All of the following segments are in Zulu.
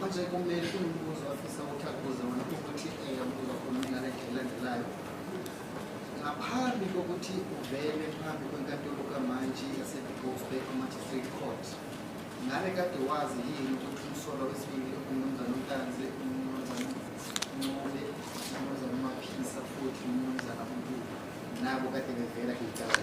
Manje kumele umbuzo afisa ukuthi akubuze wona ukuthi ubuza khona umlaleli elandelayo ngaphambi kokuthi uvele phambi kwenkantolo kamantshi yaseBigofbek Magistrate Court ngale kade wazi yini ukuthi umsolwa wesibili umnumzane uNtanzi umnumzane Ncube umnumzane uMaphisa futhi umnumzane uNtuli nabo kade bevela kuyicala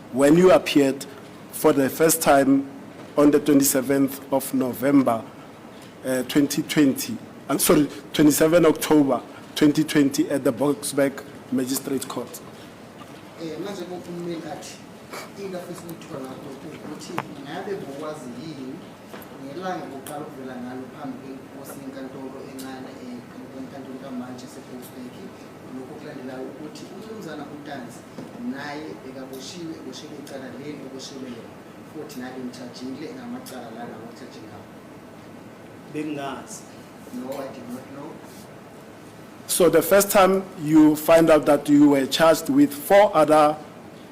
When you appeared for the first time on the 27th of November uh, 2020, I'm sorry, 27 October 2020 at the Boksburg Magistrate Court. Eh, ngelanga kuqala ukuvela ngalo phambi kwenkosi yenkantolo encane enkantolo kamantshi esebrosbek lokho kulandelayo ukuthi umnumzana utanzi naye bekaboshiwe eboshelwe icala leli eboshelwe lona futhi naye bemthajile ngamacala lana ngokuthaje ngawo bengazi no i did not know So the first time you find out that you were charged with four other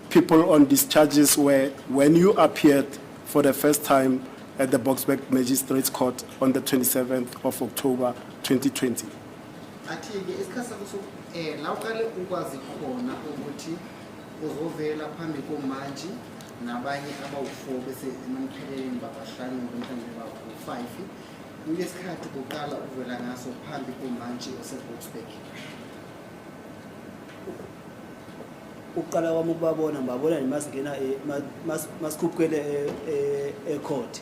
people on these charges were when you appeared for the first time at the Boksburg Magistrates Court on the 27th of October 2020. athi-ke isikhathi sakho soku um la uqale ukwazi khona ukuthi uzovela phambi komantshi nabanye abawu-four bese emamkheleleni babahlanu ngomhlawumbe bawu-five kulesikhathi kuqala ukuvela ngaso phambi komantshi oseboxburg ukuqala kwami ukubabona ngibabona nje masingena eh, mas- mas- masikhuphuke le eh, eh, ecourt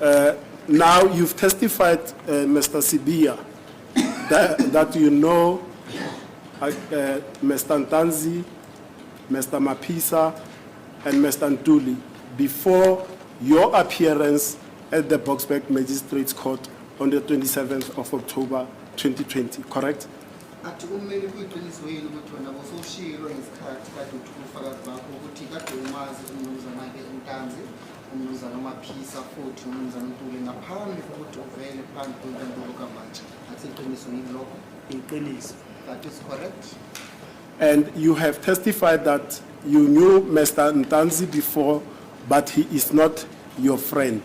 Uh, now you've testified, uh, Mr. Sibia, that, that you know uh, uh, Mr. Ntanzi, Mr. Mapisa, and Mr. Ntuli before your appearance at the Boxback Magistrates Court on the 27th of October 2020, correct? athi kumele kuyiqiniso yini ukuthi wena bosowushilo ngesikhathi kade uthi ubufakazi bakho ukuthi kade umazi umnumzana-ke untanzi uMnumzane uMaphisa futhi uMnumzane uNtuli ngaphambi kokuthi uvele phambi kwenkantolo kamantshi athi iqiniso yini lokho iqiniso that is correct and you have testified that you knew Mr. Ntanzi before but he is not your friend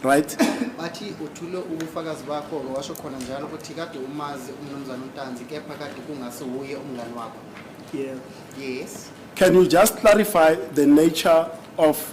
right bathi uthule ubufakazi bakho washo khona njalo ukuthi kade umazi uMnumzane uNtanzi kepha kade kungase wuye umngani wakho yeah yes can you just clarify the nature of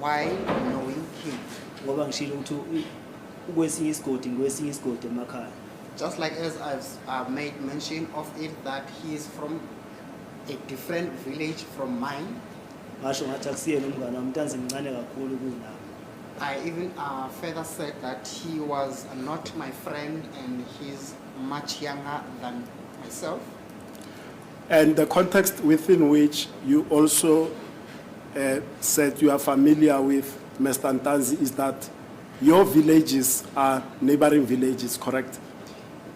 Why knowing king? Ngoba ngishilo ukuthi ukwesinye isigodi ngikwesinye isigodi emakhaya. Just like as I've uh, made mention of it that he is from a different village from mine. Ngasho ngathi akusiyena umngane wami ntanzi mncane kakhulu kunami. I even uh, further said that he was not my friend and he's much younger than myself. And the context within which you also uh, said you are familiar with, Mr. Ntanzi, is that your villages are neighboring villages, correct?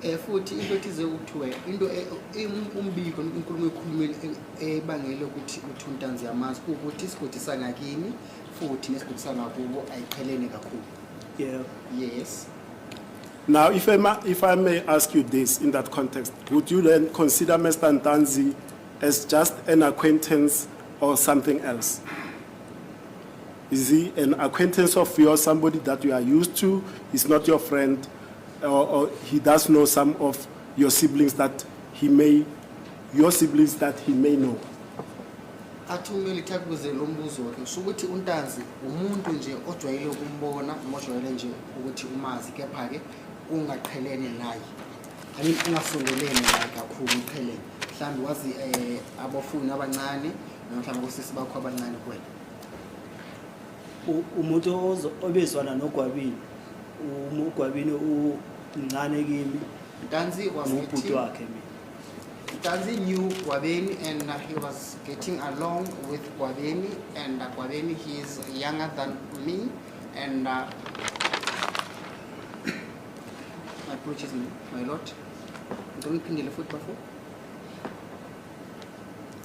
Eh, futhi into ethize kuthiwe into e, e, um, umbiko inkulumo ekhulumile e, ebangele ukuthi uthi untanzi yamazi ukuthi isigodi sangakini futhi nesigodi sangakubo ayiqhelene kakhulu yeah yes now if i if i may ask you this in that context would you then consider mr ntanzi as just an acquaintance or something else? Is he an acquaintance of yours, somebody that you are used to? He's not your friend, or, or he does know some of your siblings that he may, your siblings that he may know. athi umeli thakuze lo mbuzo ke usho ukuthi untanzi umuntu nje ojwayele ukumbona noma ojwayele nje ukuthi umazi kepha-ke ungaqhelene naye I mean ungasondeleni la kakhulu uqheleni mhlawumbe wazi eh, abafuni abancane noma mhlawumbe kosisi bakho abancane kuwena U- umuntu ozo- obezwana nogwabini um- ugwabini umncane kimi ntanzi was ngubhuti getting, wakhe mina ntanzi knew gwabeni and uh, he was getting along with gwabeni and uh, gwabeni he is younger than me and uh, My apologies, my lord. Ngicela uyiphindele futhi bafo.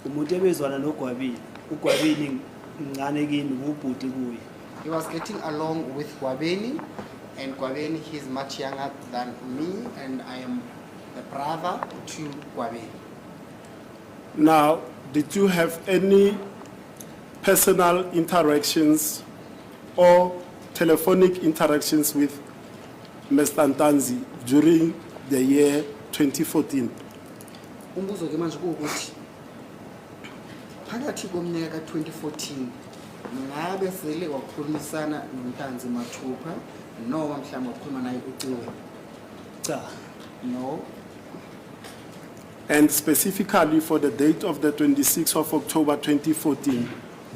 umuntu ebezwana nogwabile ugwabile mncane kimi ngubhuti kuye He was getting along with Gwabeni, and Gwabeni he's much younger than me, and I am the brother to Gwabeni. Now, did you have any personal interactions or telephonic interactions with Mr. Ntanzi during the year 2014. Umbuzo ke manje ukuthi phakathi komnyaka ka-2014 ngabe sele wakhulumisana noNtanzi mathupha noma mhlawumbe wakhuluma naye ucingo? Cha. No. And specifically for the date of the 26th of October 2014,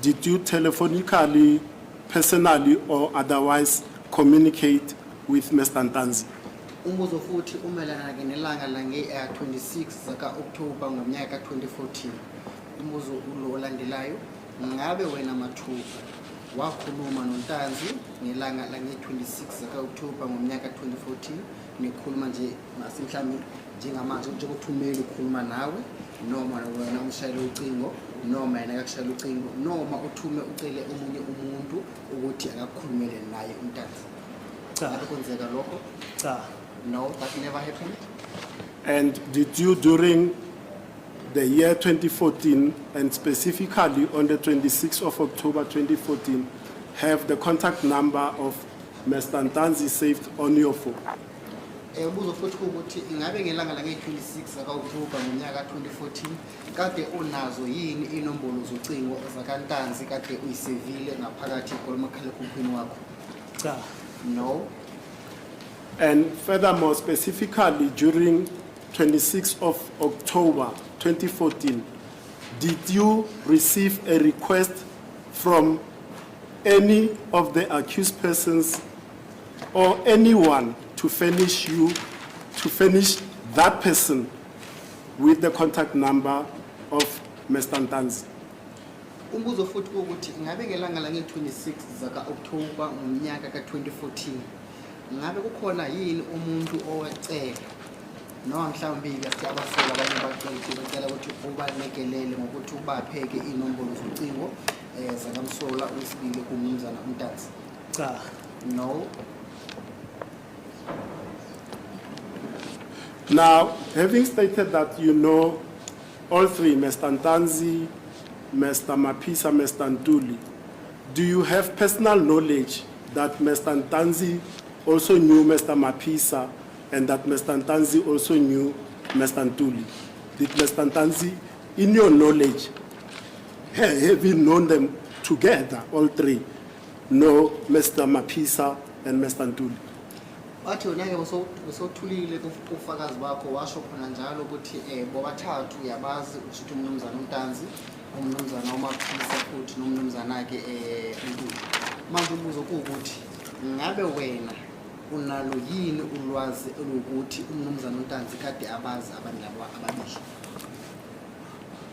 Did you telephonically, personally or otherwise communicate with Mr. Ntanzi? Umbuzo futhi umelana ke nelanga lange-26 zaka-Okthoba ngonyaka ka-2014. Umbuzo ulo olandelayo, ngabe wena Mathuba wakhuluma noNtanzi ngelanga lange-26 zaka-Okthoba ngomnyaka ka-2014 nikhuluma nje masi mhlawumbe njengamanje njengothumeli ukhuluma nawe noma wena umshayele ucingo noma yena akakushayela ucingo noma uthume ucele omunye umuntu ukuthi akakukhulumele naye umntana cha kwenzeka lokho cha no that never happened and did you during the year 2014 and specifically on the 26th of October 2014 have the contact number of Mr. Ntanzi saved on your phone? Eh, ubuzo futhi ukuthi ingabe ngelanga lange-26 zakaoktobha ngonyaka ka-2014 kade unazo yini inombolo zocingo zakantanzi kade uyisevile ngaphakathi kolomakhalekhukhwini wakho cha no and furthermore specifically during 26 of october 2014 did you receive a request from any of the accused persons or anyone to furnish you to furnish that person with the contact number of Mr. Ntanzi. Umbuzo futhi ukuthi ngabe ngelanga la nge-26 zaka October ngonyaka ka-2014 ngabe kukhona yini umuntu owacela noma mhlawumbe ke abasola abanye abaceli bacela ukuthi ubalekelele ngokuthi ubapheke iy'nombolo zocingo um zakamsola wesibili kumnumzana umntanzi Cha, no. Now, having stated that you know all three, Mr. Ntanzi, Mr. Mapisa, Mr. Ntuli, do you have personal knowledge that Mr. Ntanzi also knew Mr. Mapisa and that Mr. Ntanzi also knew Mr. Ntuli? Did Mr. Ntanzi, in your knowledge, ha- have you known them together, all three? No Mr Maphisa and Mr Ntuli. Wathi wena ke usothulile kufakazi bakho washo khona njalo ukuthi eh bobathathu uyabazi ukushuthi umnumzana uNtanzi, umnumzana uMaphisa futhi nomnumzana ke eh uNtuli. Manje ubuzo ukuthi ngabe wena unalo yini ulwazi elokuthi umnumzana uNtanzi kade abazi abantu labo ababili?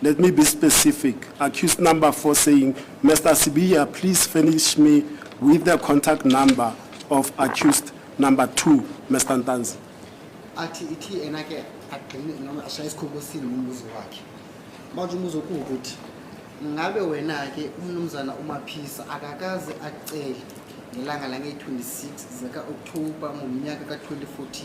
Let me be specific. Accused number four saying, Mr. Sibiya, please finish me with the contact number of accused number two, Mr. Ntanzi. athi ithi yena ke agcine noma ashaye isikhobosini ngombuzo wakhe manje umuzo kuwukuthi ngabe wena-ke umnumzana umaphisa akakaze acele ngelanga lange-26 zika-okthoba ngomnyaka ka-2014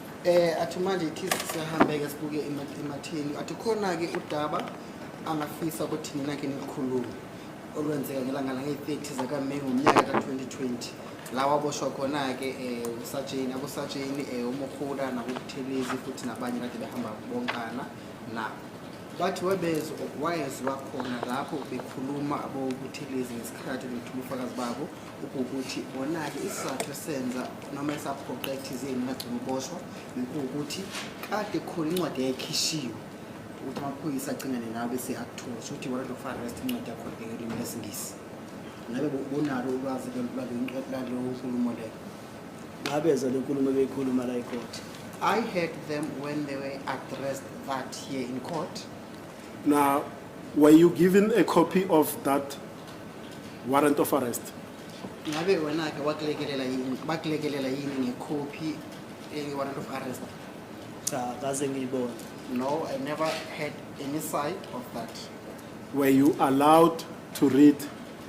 Eh athi manje ithi siyahambeke sibuke emathini. Athi khona ke udaba angafisa ukuthi nina ke nikhulume olwenzeka ngelanga la nge-30 zaka May ngomnyaka ka 2020. Lawa boshwa khona ke eh usajeni abosajeni eh uMokhula nabokuthelezi futhi nabanye kade behamba bonkana na bathi webezwa wayezwa khona lapho bekhuluma abokuthelezi ngesikhathi bethula ubufakazi babo ukuthi bona-ke isizathu esenza noma esaphoqa ethizeni bagcina uboshwa ukuthi kade khona incwadi yayikhishiwe ukuthi amaphoyisa acingane nawo bese akuthola ukuthi warrant of arrest incwadi yakhona bhekelimi lesingisi ngabe bonalo ulwazi lalo nkulumo leyo ngabezwa le nkulumo ebeyikhuluma la ikhoti I heard them when they were addressed that here in court. Now, were you given a copy of that warrant of arrest ngabe wena-ke wakulekelela yini bakulekelela yini ngekhophi eyi-warrant of arrest cha kaze ngiyibona no i never had any side of that were you allowed to read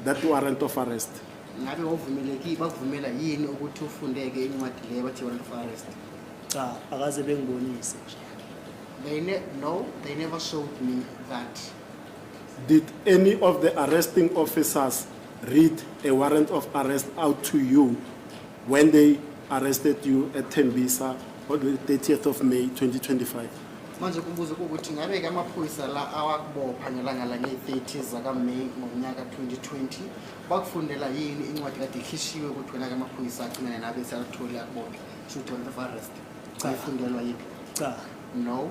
that warrant of arrest ngabe wavumelekile bakuvumela yini ukuthi ufundeke incwadi le bathi warrant of arrest cha akaze bengibonise nje they ne no they never showed me that Did any of the arresting officers read a warrant of arrest out to you when they arrested you at Tembisa on the 30th of May 2025? manje kubuza ukuthi ngabe ke amaphoyisa la awakubopha ngelanga lange-30 zakaMay ngonyaka 2020 bakufundela yini incwadi kade ikhishiwe ukuthi wena ke amaphoyisa agcinane nabe seyakutholi akubophe should warrant of arrest Cha. ayifundelwa yiphi cha no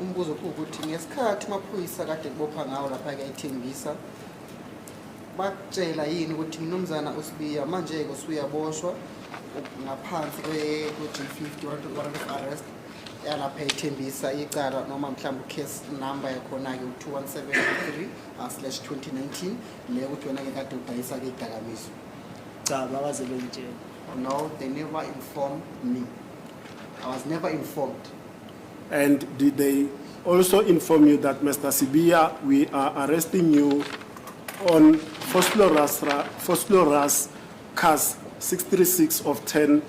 Umbuzo ukuthi ngesikhathi amaphoyisa kade kubopha ngawo lapha ke ithembisa bakutshela yini ukuthi mnumzana usibiya manje-ke usuyaboshwa ngaphansi kwe-g 50 warrant of arrest yalapha ethembisa icala noma mhlawumbe ucase number yakhona-ke u-2173 uh, slash 2019 le ukuthi wena-ke kade udayisa-ke idakamizwa cha bakaze bengitshela no they never informed me i was never informed And did they also inform you that Mr. Sibiya we are arresting you on Fosloras Fosloras case 636 of 10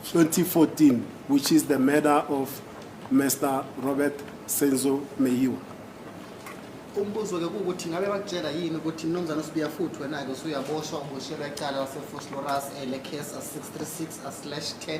2014 which is the murder of Mr. Robert Senzo Meyiwa umbuzo ke ukuthi ngabe bakutshela yini ukuthi mnumzane usibiya futhi wena ke usuyaboshwa uboshelwa icala laseFosloras ele case 636/10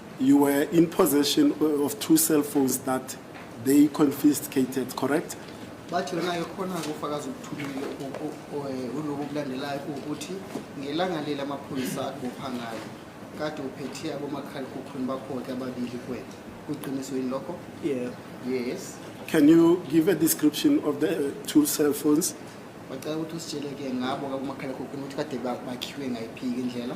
You were in possession of two cell phones that they confiscated, correct? bathi yona ekhona kufakaza ukuthumile uloku kulandelayo ukuthi ngelanga leli amaphoyisa akupha ngayo kade uphethe abomakhalekhukhwini bakho-ke ababili kwena kuqiniso yini lokho yebo yes Can you give a description of the uh, two cell phones? bacela ukuthi usitshele-ke ngabo kabomakhalekhukhwini ukuthi kade ba- bakhiwe ngayiphi-ke indlela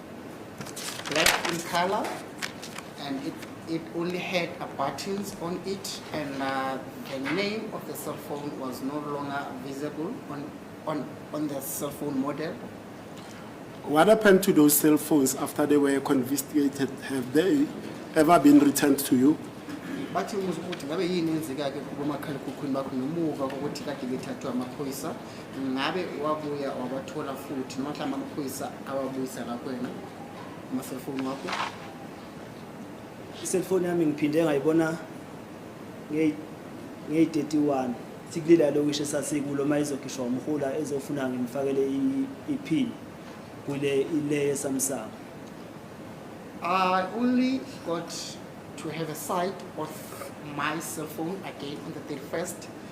Black in color and it, it only had uh, buttons on it and uh, the name of the cell phone was no longer visible on, on, on the cell phone model. What happened to those cell phones after they were confiscated? Have they ever been returned to you? Bathi umuzi ukuthi ngabe yini enzeka-ke kubomakhalekhukhwini bakho ngemuva kokuthi kade bethathwe amaphoyisa. ngabe wabuya wabathola futhi noma mhlawumbe amaphoyisa awabuyisa la kwena amaselfoni wakho iselfoni yami ngiphinde ngayibona ngeyi-31 sikulile yalokishi esasikulo uma izokhishwa umhula ezofuna ngimfakele iphini kule ile yesamsamo I only got to have a sight of my cell phone again on the 31st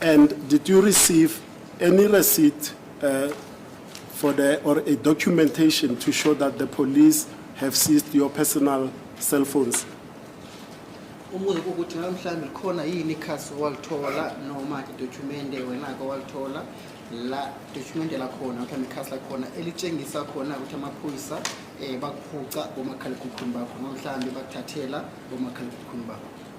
And did you receive any receipt uh, for the or a documentation to show that the police have seized your personal cell phones? umubuzo ukuthi ngabe mhlawumbe likhona yini ikhasi owalithola noma idokhumende wena-ke owalithola la dokhumende lakhona mhlawumbe ikhasi lakhona elitshengisa khona ukuthi amaphoyisa um bakuphuca bomakhalekhukhwini bakho noma mhlawumbe bakuthathela bomakhalekhukhwini bakho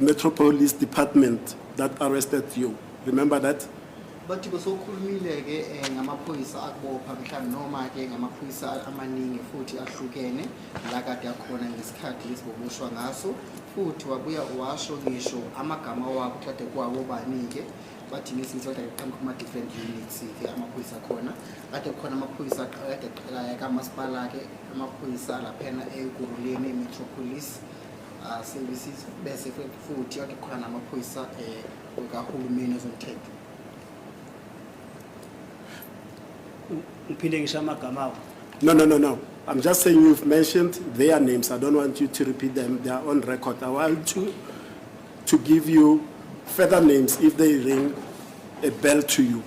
Metro Police Department that arrested you. Remember that? bathi besokhulumile ke eh, ngamaphoyisa akubopha mhlawumbe noma ke ngamaphoyisa amaningi futhi ahlukene la kade akhona ngesikhathi lesi boboshwa ngaso futhi wabuya washo ngisho amagama wabo kade kwawo bani-ke bathi ngesinto kade kuqhamuka kuma-different units-ke amaphoyisa akhona kade kukhona amaphoyisa aqala- kade aqalaya kamasipala-ke amaphoyisa laphena ekuruleni emetropolis Ah, services bese futhi ake khona namaphoyisa um kahulumeni ezomthetho ngiphinde ngisho amagama awo no no no no i'm just saying you've mentioned their names i don't want you to repeat them they are on record i want to to give you further names if they ring a bell to you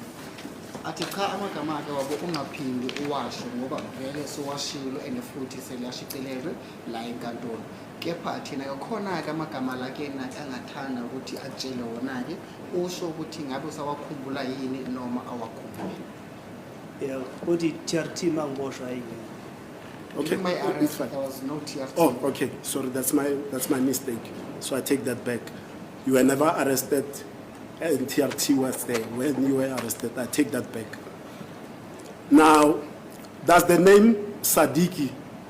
athi cha amagama ake wabo ungaphindi uwasho ngoba vele sowashilo and futhi seliyashicilelwe la enkantolo kepha thina yokhona-ke amagama la kena angathanda ukuthi atshele wona-ke usho ukuthi ngabe usawakhumbula yini noma awakhumbuli Yeah, uthi TRT mangiboshwa ayingena. Okay. During my It's arrest, fine. there was no TRT. Oh, okay. Sorry, that's my that's my mistake. So I take that back. You were never arrested, and TRT was there when you were arrested. I take that back. Now, does the name Sadiki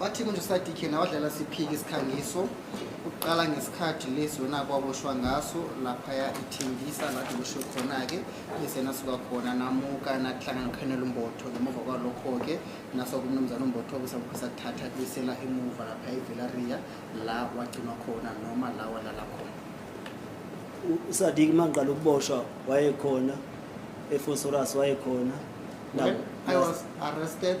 Wathi kunje uSadiq yena wadlala siphiki isikhangiso uqala ngesikhathi lesi wena kwaboshwa ngaso laphaya ithingisa lathi kusho khona-ke bese nasuka khona namuka nahlangana nokhanyela umbotho ngemuva kwalokho-ke naso kumnumzana umbotho kusakuphisa kuthatha kubisela emuva lapha evelaria la wagcinwa khona noma la walala khona uSadiq mangiqala ukuboshwa wayekhona eFosorus wayekhona When I was arrested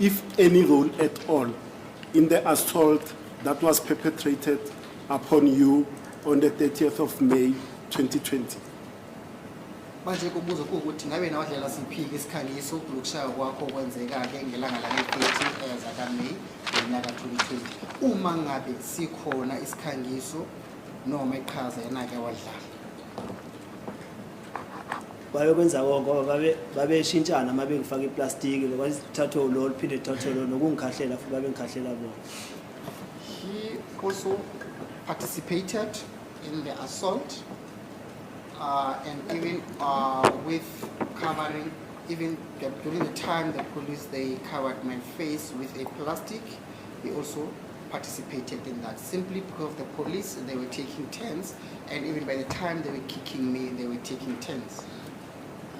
if any role at all in the assault that was perpetrated upon you on the 30th of May 2020. manje kubuza ukuthi ngabe na wadlela siphiki isikhangiso lokushaya kwakho kwenzeka-ke ngelanga lale-30 zakameyi ngonyaka 2020 uma ngabe sikhona isikhangiso noma iqhaza yena-ke wadlala babekwenza konke ngoba babe babeshintshana uma bengifaka iplastiki lokuthathwe ulo liphinde lithathwe lo nokungikhahlela futhi babengikhahlela bona he also participated in the assault uh, and even uh, with covering even the, during the time the police they covered my face with a plastic he also participated in that simply because the police they were taking turns And even by the time they were kicking me, they were taking turns.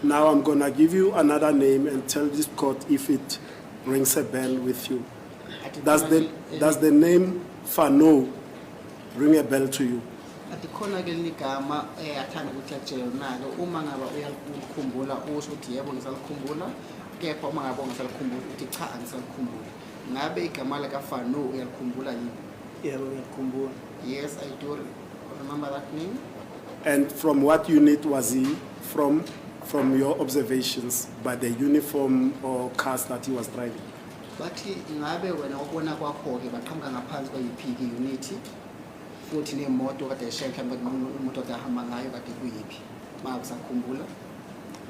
Now I'm going to give you another name and tell this court if it rings a bell with you. Does the, does the name Fano ring a bell to you? likhona ke ligama eh athanda ukuthi akutshele nalo uma ngaba uyalikhumbula usho ukuthi yebo ngisalikhumbula kepha uma ngaba ungasalikhumbula ukuthi cha angisalikhumbuli ngabe igama lika Fano uyalikhumbula yini yebo ngiyalikhumbula Yes, I do remember that name. And from what unit was he from? From your observations by the uniform or cars that he was driving? bathi ingabe wena ubona kwakho-ke baqhamuka ngaphansi kwayiphi-ke unithi futhi nemoto kade eshaye mhlawumbe kade imoto kade ahamba ngayo kade kuyiphi ma usakhumbula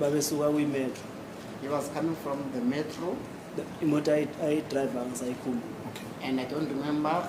babesuka kwimetro he was coming from the metro imoto ayidrayiva ngisayikhumbula and i don't remember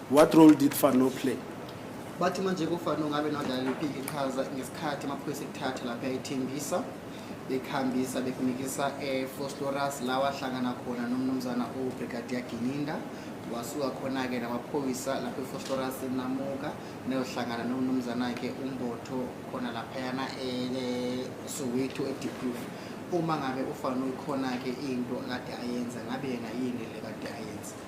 What role did Fano play? Bathi manje kufana ngabe nodlala liphi iqhaza ngesikhathi amaphoyisa ekuthatha lapha ethembisa bekuhambisa bekunikisa eFosloras la wahlangana khona nomnumzana uBrigadier Gininda wasuka khona-ke namaphoyisa lapho eFosloras namuka neyohlangana nomnumzana-ke uMbotho khona laphayana eSoweto eDeepproof uma ngabe ufana uyikhona-ke into kade ayenza ngabe yena yini le kade ayenza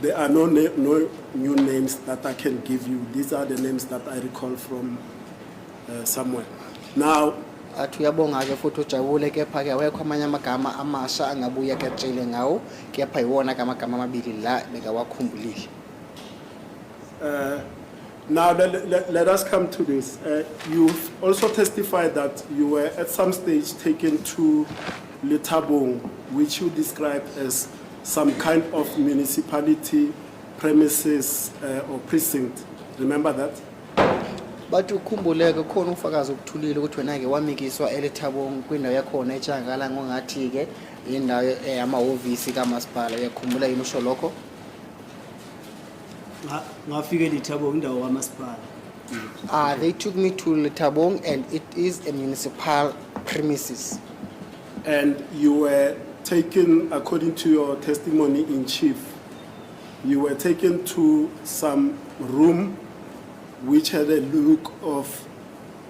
There are no, na no new names that I can give you. These are the names that I recall from uh, somewhere. Now, athi uyabonga-ke futhi ujabule kepha-ke awekho amanye amagama amasha angabuye akatshele ngawo kepha yiwona-ke amagama amabili la bekawakhumbulile uh, Now, let, let, let, us come to this. Uh, you've also testified that you were at some stage taken to Litabong, which you described as some kind of municipality premises uh, or precinct remember that bathi ukhumbuleke khona ufakazi okuthulile ukuthi wena ke wamikiswa elethabong kwindawo yakhona etshankala ngongathi ke indawo eh, yamahhovisi kamasipala uyakhumbula yini usho lokho ngafika elethabong indawo kamasipala Uh, they took me to Letabong and it is a municipal premises. And you were taken according to your testimony in chief. You were taken to some room which had a look of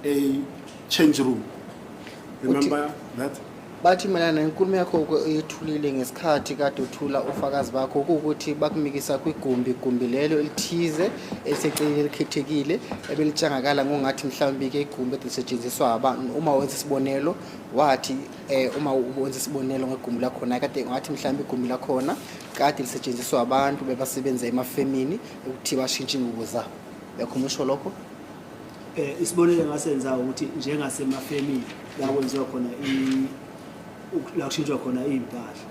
a change room. Remember that? bathi mayelana nenkulumo yakho uke uyethulile ngesikhathi kade uthula ufakazi bakho kuwukuthi bakumikisa kwigumbi igumbi lelo elithize eliseceleni elikhethekile ebelitshangakala ngongathi mhlawumbi-ke igumbi elisetshenziswa abantu uma wenza isibonelo wathi eh uma ubonza isibonelo ngegumbi lakhona kade ngathi mhlawumbe igumbi lakhona kade lisetshenziswa abantu bebasebenza emafemini ukuthi bashintshe ingubo zabo yakho umusho lokho eh isibonelo engasenza ukuthi njengasemafemini la kwenziwa khona i la kushintshwa khona impahla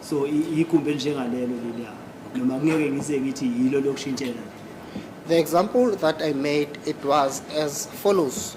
so igumbi enjengalelo leliya noma kungeke ngize ngithi yilo lokushintshela The example that I made, it was as follows.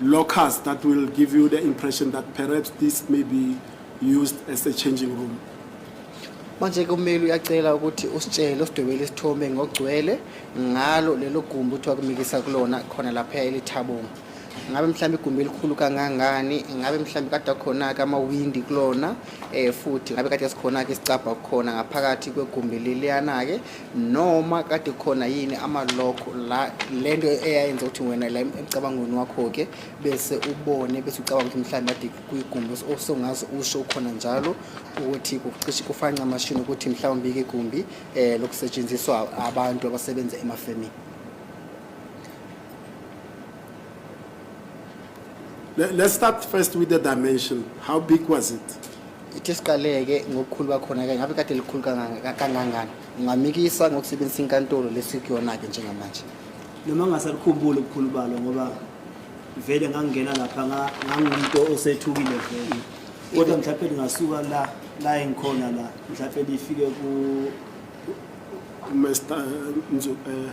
lockers that will give you the impression that perhaps this may be used as a changing room. manje ke ummeli uyacela ukuthi usitshele usidwebele isithombe ngogcwele ngalo lelo gumbi kuthiwa kumikisa kulona khona lapha elithabonga ngabe mhlawumbe igumbi elikhulu kangangani ngabe mhlawumbe kade akhona-ke amawindi kulona um futhi ngabe kade sikhona-ke isicabha kukhona ngaphakathi kwegumbi leliyana-ke noma kade khona yini amalokho la le nto eyayenza ukuthi wena la emcabangweni wakho-ke bese ubone bese ucabanga ukuthi mhlawumbe ade kwigumbi osongaze usho ukhona njalo ukuthi kucishe kufanca amashini ukuthi mhlawumbe ike igumbi um eh, lokusetshenziswa abantu abasebenza emafemini Let's start first with the dimension. How big was it? ithi siqaleke ngokukhulu bakhona ke ngabe kade likhulu kangangani ungamikisa ngokusebenzisa inkantolo lesikuyona-ke njengamanje noma ngasakukhumbuli ubukhulu balo ngoba vele ngangingena lapha ngangumuntu osethukile vele kodwa mhlawumpe lingasuka la la engikhona la mhlawumpe lifike ku Mr. Nzu eh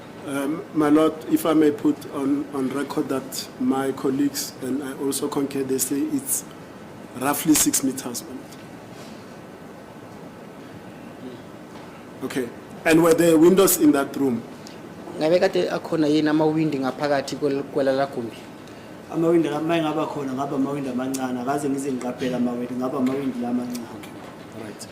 Um, my Lord, if I may put on, on record that my colleagues and I also concur, they say it's roughly six meters. Okay. And were there windows in that room? ngabe kade akhona yini amawindi ngaphakathi kwel- kwelala gumbi amawindi uma engaba khona ngaba amawindi amancane akaze ngize ngiqaphele amawindi ngaba amawindi la amancane Right.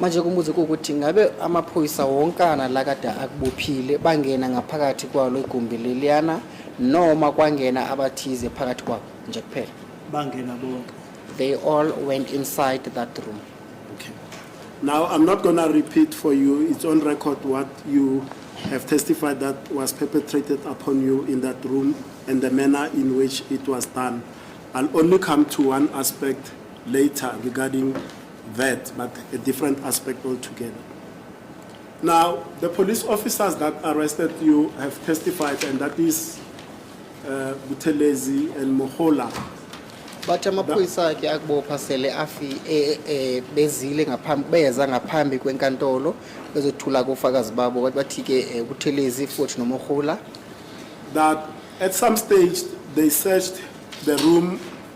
Manje kumuzi ukuthi ngabe amaphoyisa wonkana la kade akubophile bangena ngaphakathi kwalo igumbi leliyana noma kwangena abathize phakathi kwabo nje kuphela. Bangena bonke. They all went inside that room. Okay. Now, I'm not going to repeat for you, it's on record what you have testified that was perpetrated upon you in that room and the manner in which it was done. I'll only come to one aspect later regarding that, but a different aspect altogether. Now, the police officers that arrested you have testified, and that is uh, Butelezi and Mohola. But amaphoyisa ke akubopha sele afi eh, eh, bezile ngaphambi beza ngaphambi kwenkantolo bezothula kofakazi babo kodwa bathi ke eh, Buthelezi futhi noMohola that at some stage they searched the room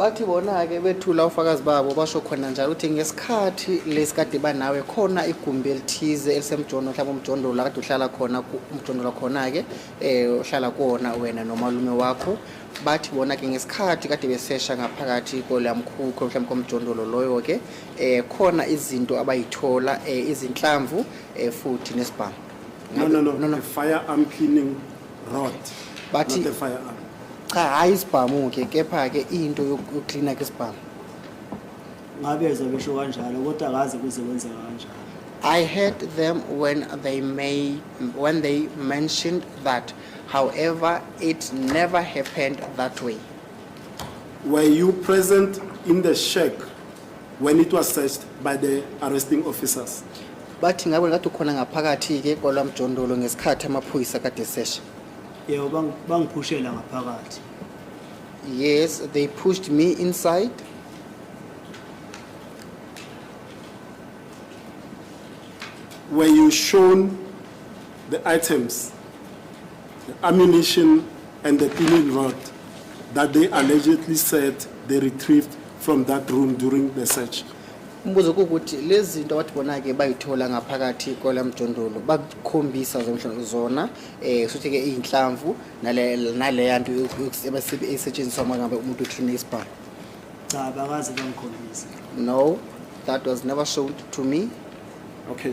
Bathi bona-ke bethula ufakazi babo basho khona njalo ukuthi ngesikhathi lesi kade banawe khona igumbi elithize elisemjondo mhlawumbe umjondolo akade uhlala khona umjondolo khona-ke um eh, uhlala kuwona wena nomalume wakho bathi bona-ke ngesikhathi kade besesha ngaphakathi kolamkhukho mhlawumbe komjondolo loyo-ke um khona izinto abayithola um izinhlamvu um futhi nesibhamu no, no, no, no, no. firearm cleaning rod Bathi- not a firearm cha hhayi isibhamu ke kepha-ke into yoku- yokuklina ke isibhamu ngabezwa besho kanjalo kodwa akaze kuze kwenzeka kanjalo I heard them when they made when they mentioned that. However, it never happened that way. were you present in the shack when it was searched by the arresting officers. Bathi ngabe ngathi ukhona ngaphakathi ke kwalamjondolo ngesikhathi amaphoyisa kade sesha. Yebo bang- bangiphushela ngaphakathi. Yes, they pushed me inside. Were you shown the items, the ammunition and the pinning rod that they allegedly said they retrieved from that room during the search. Umbuzo ukuthi lezi zinto abathi bona-ke bayithola ngaphakathi kwala mjondolo bakukhombisa zomhlawumbe zona um sothi-ke iy'nhlamvu naleya nto esetshenziswa uma ngabe umuntu uklina isibhamu cha bakaze bangikhombise no that was never shown to me okay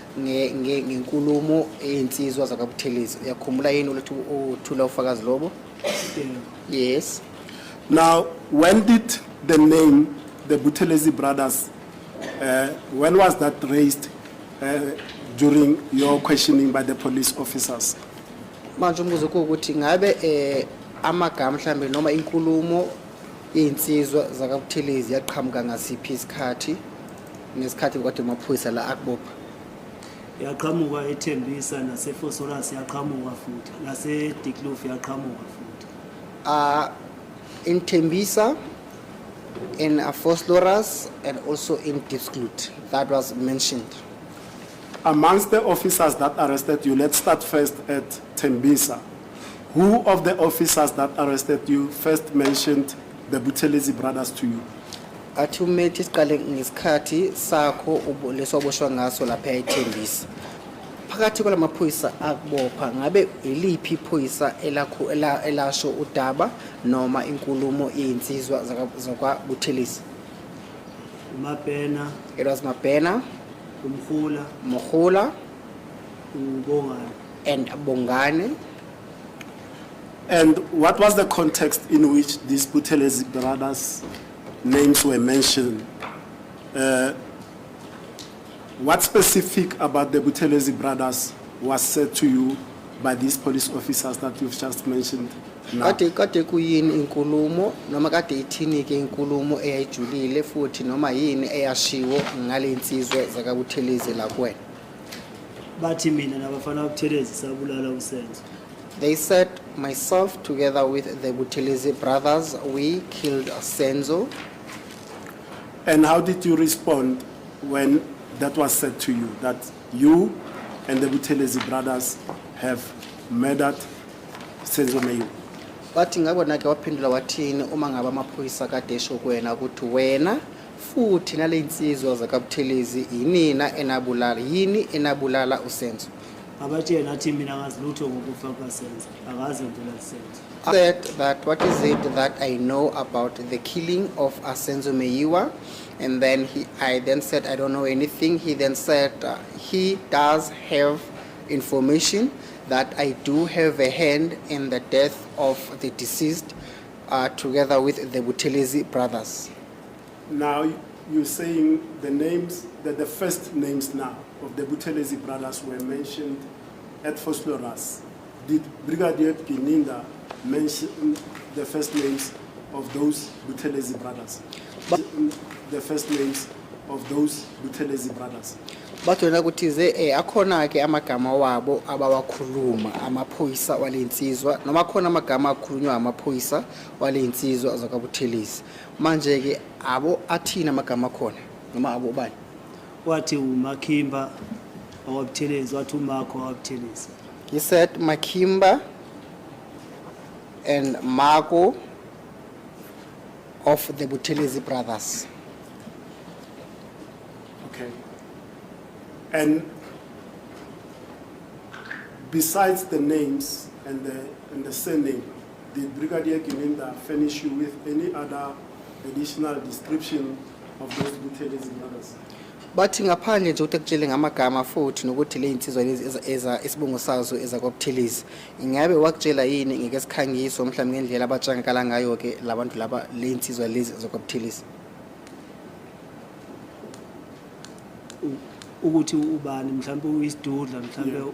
ngenkulumo eyinsizwa zakabuthelezi uyakhumbula yini ulethu uthula ufakazi lobo yes now when did the name the buthelezi brothers uh, when was that raised uh, during your questioning by the police officers manje umbuzo kuwukuthi ngabe eh amagama mhlambe noma inkulumo yezinsizwa zakabuthelezi yaqhamuka ngasiphi isikhathi ngesikhathi kade amaphoyisa la akubopha yaqhamuka ethembisa nasefosoras yaqhamuka futhi nasediclof yaqhamuka futhi uh, in thembisa in afosoras and also in disclut that was mentioned amongst the officers that arrested you let's start first at thembisa who of the officers that arrested you first mentioned the buthelezi brothers to you athi umethi siqale ngesikhathi sakho lesoboshwa ngaso lapha yayithembisa phakathi kwala maphoyisa akubopha ngabe yiliphi iphoyisa elakho elasho udaba noma inkulumo iyinsizwa zakwabuthelisi umabhena it was mabhena umhula mohula ubongane and bongane And what was the context in which these Buthelezi brothers' names were mentioned? Uh, what specific about the Buthelezi brothers was said to you by these police officers that you've just mentioned? now? kade kade kuyini inkulumo noma kade ithini ke inkulumo eyayijulile futhi noma yini eyashiwo ngalensizwe zakabuthelezi la kuwena bathi mina nabafana buthelezi sabulala usenzo They said, myself together with the Buthelezi brothers, we killed Senzo. And how did you respond when that was said to you, that you and the Buthelezi brothers have murdered Senzo Mayu? Wathi ngabona ke waphendula wathini uma ngabe amaphoyisa kade esho kuwena ukuthi wena Futhi naleyinsizwa zakaButhelezi yinina enabulala yini enabulala uSenzo. Abathi yena athi mina ngazilutho ngokufa kukaSenzo. Akaze ngibulala uSenzo. said that what is it that I know about the killing of Asenzo Meyiwa and then he I then said I don't know anything he then said uh, he does have information that I do have a hand in the death of the deceased uh, together with the Buthelezi brothers Now you're saying the names, that the first names now of the Buthelezi brothers were mentioned at Fosloras. Did Brigadier Pininda mention the first names of those Buthelezi brothers? But the first names of those Buthelezi brothers. bathona ukuthi ze eh akhona ke amagama wabo abawakhuluma amaphoyisa walensizwa noma khona amagama akhulunywa amaphoyisa walensizwa zakabuthelezi manje ke abo athini amagama akhona noma abo ubani wathi umakhimba awabuthelezi wathi umakho awabuthelezi he said makimba and mako of the buthelezi brothers Okay. And besides the names and the, and the surname, The Brigadier Gilinda furnish you with any other additional description of those military zimaras. Bathi ngaphandle nje ukuthi akutshele ngamagama futhi nokuthi le insizwa lezi eza- eza isibongo sazo ezakwabuthelezi ingabe wakutshela yini ngeke sikhangiso mhlawumbe ngendlela abatshangakala ngayo ke labantu laba le insizwa lezi ezakwabuthelezi u- ukuthi ubani mhlawumbe uyisidudla mhlawumbe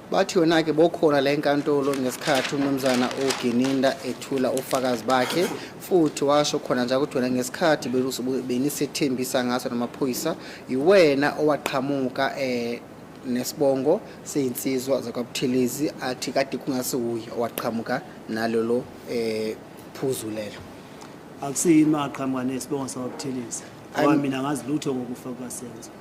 Bathi yona-ke bokhona la enkantolo ngesikhathi uMnumzana uGininda ethula ofakazi bakhe futhi washo khona nje ukuthi wena ngesikhathi benisethembisa ngaso namaphoyisa yiwena owaqhamuka um nesibongo seyinsizwa zakwaButhelezi athi kade kungase wuye owaqhamuka nalolo um phuzu lelo akusiyimi aqhamuka nesibongo sakwaButhelezi ngoba mina ngazi lutho ngokufa kukasenzo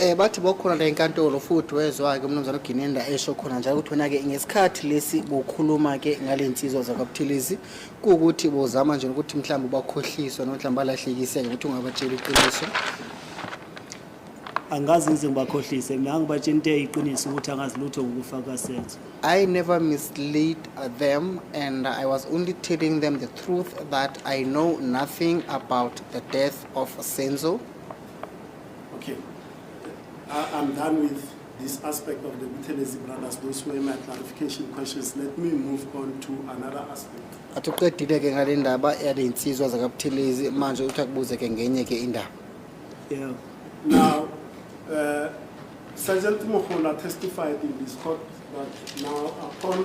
Eh bathi bokhona la enkantolo futhi wezwa ke umnumzane uGinenda esho khona njalo ukuthi wena ke ngesikhathi lesi bokhuluma ke ngalensizwa zakwaButhilisi kuukuthi bozama nje ukuthi mhlawumbe ubakhohliswa noma mhlawumbe alahlekise ukuthi ungabatshela iqiniso angazi ngize ngibakhohlise mina angibatshela into eyiqiniso ukuthi angazi lutho ngokufa kasenzo I never mislead them and I was only telling them the truth that I know nothing about the death of Senzo Okay. I, I'm done with this aspect of the Buthelezi brothers. Those were my clarification questions. Let me move on to another aspect. athi uqedile ke ngale ndaba yaley'nsizwa zakabuthelezi manje uthi akubuze ke ngenye ke indaba Yeah. Now, uh, Sergeant Mohola testified in this court that now upon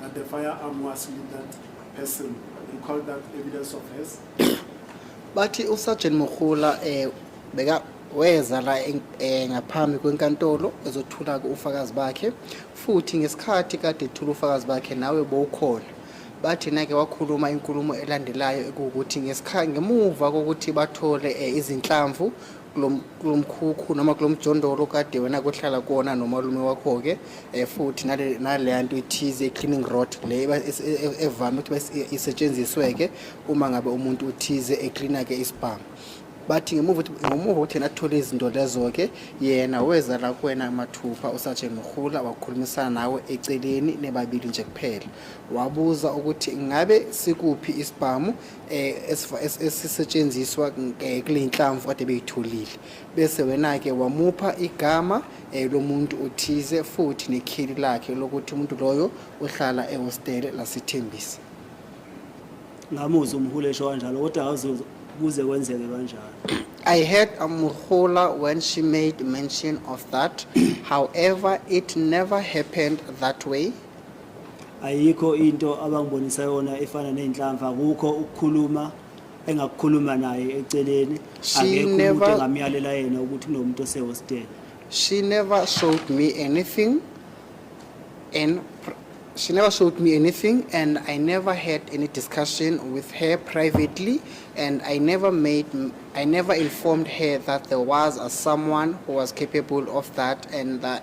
that the firearm was with that person and called that evidence of hers. Bathi uSergeant Mokhula eh beka weza la eh, ngaphambi kwenkantolo ezothula ufakazi bakhe futhi ngesikhathi kade ethula ufakazi bakhe nawe bowukhona bathi nake wakhuluma inkulumo elandelayo ekuwukuthi ngesikhathi ngemuva kokuthi bathole eh, izinhlamvu kulo mkhukhu noma kulo mjondolo kade wena kohlala kuwona nomalume wakho-ke um futhi naleya nto ithize i-cleaning rod le e, e, evame ukuthi isetshenziswe-ke uma ngabe umuntu uthize eklina-ke isibhamu bathi ngemuva ngemuva ukuthi yena athole izinto lezo-ke yena weza la kuwena mathupha usaje mrhula wakhulumisana nawe eceleni nebabili nje kuphela wabuza ukuthi ngabe sikuphi isibhamu eh, esisetshenziswa eh, kule nhlamvu kade beyitholile bese wena-ke wamupha igama eh, lomuntu othize futhi nekheli lakhe lokuthi umuntu loyo uhlala ehostele lasithembisa ngamuzi umhule esho kanjalo kodwa awuze kuze kwenzeke kanjalo I heard Amuhula when she made mention of that. However, it never happened that way. ayikho into abangibonisa yona efana nezinhlamvu akukho ukukhuluma engakukhuluma naye eceleni akekho umuntu engamyalela yena ukuthi kunomuntu osehostela she never showed me anything and she never showed me anything and i never had any discussion with her privately and i never made i never informed her that there was a someone who was capable of that and that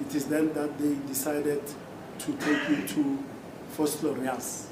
It is then that they decided to take me to Fort Florias.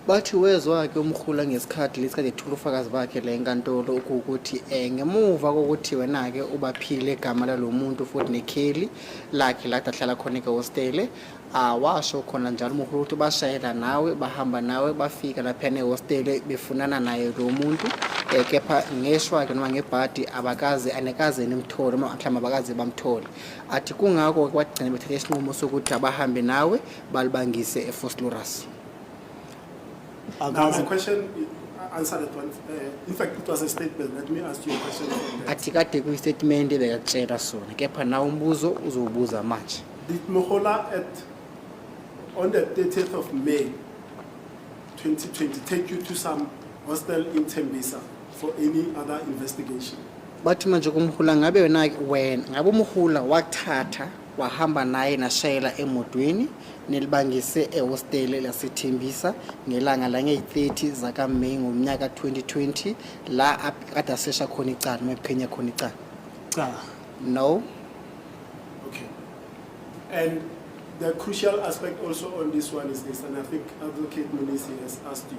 Bathi wezwa ke umkhula ngesikhathi lesikhathi ethula ufakazi bakhe le nkantolo ukuthi eh ngemuva kokuthi wena ke ubaphile igama lalomuntu futhi nekheli lakhe la ahlala khona ke hostele awasho ah, khona njalo umkhulu ukuthi bashayela nawe bahamba nawe bafika lapha nehostele befunana naye lo muntu eh, kepha ngeshwa ke noma ngebhadi abakaze anekaze nimthole noma mhlawumbe abakaze bamthole Athi kungako kwagcina bethathe isinqumo sokuthi abahambe nawe balibangise eFoslorus. Akazi question answer that one. Uh, in fact, it was a statement. Let me ask you a question. Athi kade kuyistatement ebekakutshela sona kepha nawo umbuzo uzowubuza manje. Did Mohola at on the 30th of May 2020 take you to some hostel in Tembisa? for any other investigation. bathi manje kumhula ngabe wena wena ngabe umhula wathatha wahamba naye nashayela emotweni nelibangise ehostele lasethembisa ngelanga langeyi-30 zakameyi ngomnyaka 2020 la ap- kade asesha khona icala noma ephukhenya khona icala Cha. no Okay. And the crucial aspect also on this one is this, and I think Advocate Munisi has asked you.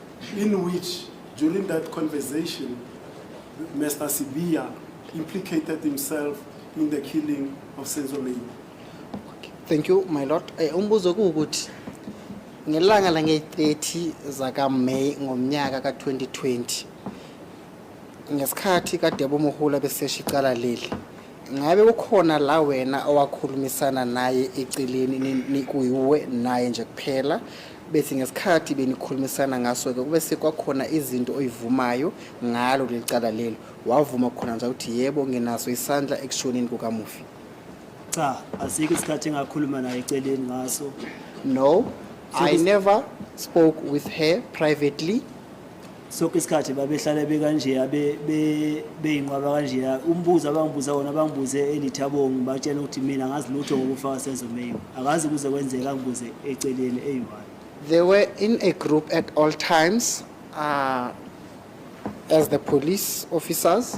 in which during that conversation Mr. Sibia implicated himself in the killing of Senzo Meyiwa. Thank you my lord. Eh, umbuzo kuwukuthi ngelanga lange-30 zakaMay ngomnyaka ka-2020 ngesikhathi kaDebo Mohula besesha icala leli ngabe kukhona la wena owakhulumisana naye eceleni nikuyiwe naye nje kuphela bethi ngesikhathi benikhulumisana ngaso-ke kube sekwakhona izinto oyivumayo ngalo leli cala lelo wavuma khona nje ukuthi yebo nginaso isandla ekushoneni kukamufi cha asikho isikhathi engakhuluma naye eceleni ngaso no i never spoke with her privately sonke isikhathi babehlale bekanjeya beyinqwaba kanjeya umbuzo abangibuza wona bangibuze elithabongi batshela ukuthi mina ngazi lutho ngokufaka senzo meyiwa akazi kuze kwenzeka angibuze eceleni eyi-one they were in a group at all times uh, as the police officers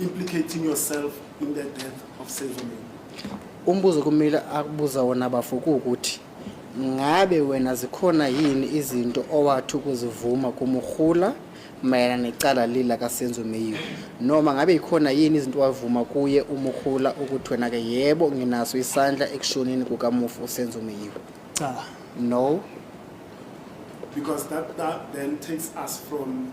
implicating yourself in the death of Sezomeni umbuzo kumile akubuza wona bafo ukuthi ngabe wena zikhona yini izinto owathi ukuzivuma kumurhula mayelana necala lila kasenzo meyiwe noma ngabe yikhona yini izinto wavuma kuye umurhula ukuthi wena-ke yebo nginaso isandla ekushonini kukamufi usenzo meyiwe cha no because that, that then takes us from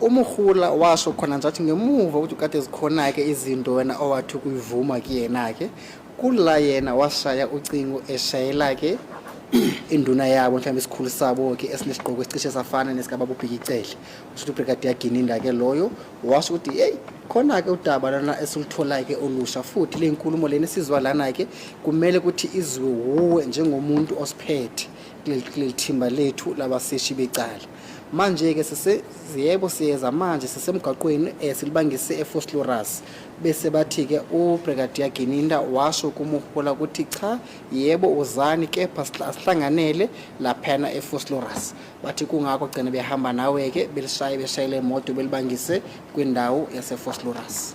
UMogola washo khona nje athi ngemuva ukuthi kade zikhona-ke izinto wena owathi ukuyivuma kuyena-ke kula yena washaya ucingo eshayela-ke induna yabo mhlawumbe isikhulu sabo-ke esinesigqoko esicishe safana nesikababa ubhikicele usho ukuthi ubrigadier gininda-ke loyo washo ukuthi yeyi khona-ke udaba lana esilutholayo-ke olusha futhi le nkulumo lena esizwa lana-ke kumele ukuthi izwe wuwe njengomuntu osiphethe kuleli thimba lethu labaseshi becala Manje-ke sise yebo siyeza manje sisemgwaqweni um silibangise efoslorus bese bathi-ke ubrigadier gininda washo kumuhola ukuthi cha yebo uzani kepha asihlanganele laphana efoslorus bathi kungakho gcina behamba nawe-ke belishaye beshayele imoto belibangise kwindawo yasefoslorus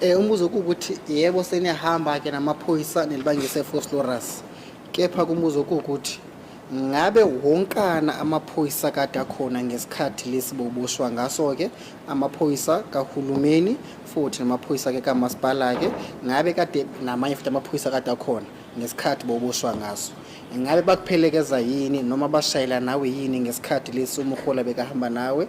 Eh umbuzo ukuthi yebo seniyahamba ke namaphoyisa nelibangise Foslorus. Kepha kumbuzo ukuthi ngabe wonkana amaphoyisa kade akhona ngesikhathi lesi boboshwa ngaso ke amaphoyisa kahulumeni futhi namaphoyisa ke kamasipala ke ngabe kade namanye futhi amaphoyisa kade akhona ngesikhathi boboshwa ngaso ngabe bakuphelekeza yini noma bashayela nawe yini ngesikhathi lesi umhola bekahamba nawe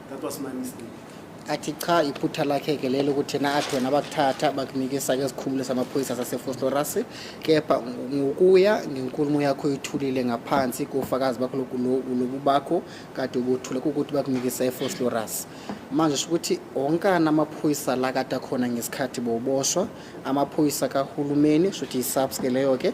That was my mistake. athi cha iphutha lakhe ke lelo ukuthi na athi wena bakuthatha bakunikisa ke sikhumule samaphoyisa sasefoslorus kepha ngokuya ngenkulumo yakho ithulile ngaphansi kofakazi bakho loku- lo- lobu bakho kade ubuthule kukuthi bakunikisa efoslorus manje sho ukuthi onkana amaphoyisa la kade akhona ngesikhathi boboshwa amaphoyisa kahulumeni sho ukuthi yi-subs ke leyo ke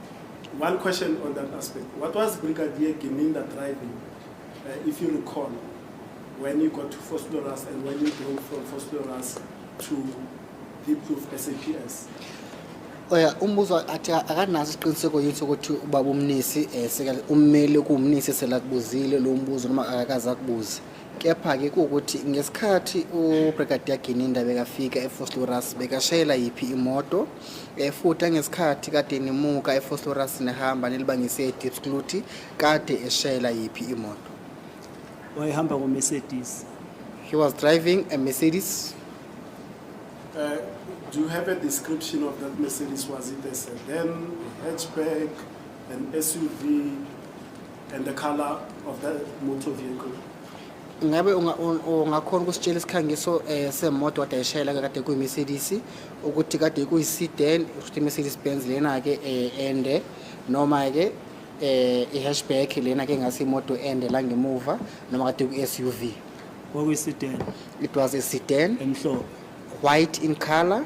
One question on that aspect. What was Brigadier Gininda driving, uh, if you recall, when you got to Fosloras and when you drove from Fosloras to Deep Proof SAPS? oya umbuzo athi akanaso isiqiniseko yithi ukuthi ubaba umnisi um ummeli kuwumnisi selakubuzile lo mbuzo noma akakaze akubuze kepha-ke kuwukuthi ngesikhathi ubrigadier gininda bekafika efosloras bekashayela yiphi imoto um futhi angesikhathi kade nimuka efosloras nihamba nilibangise edipscluty kade eshayela yiphi imoto wayehamba ngomercedes he was driving a mercedes uh, do you have a description of that mercedes was it a sedan a hatchback an suv And the color of the motor vehicle. Ngabe ungakhona ukusitshela isikhangiso eh, semoto kade ayishayela kade kuyiMercedes ukuthi kade kuyisedan ukuthi iMercedes Benz lena ke eh, ende noma ke eh i-hatchback lena ke ngase imoto ende la ngemuva noma kade ku-SUV kwakuyisedan it was a sedan emhlophe white in color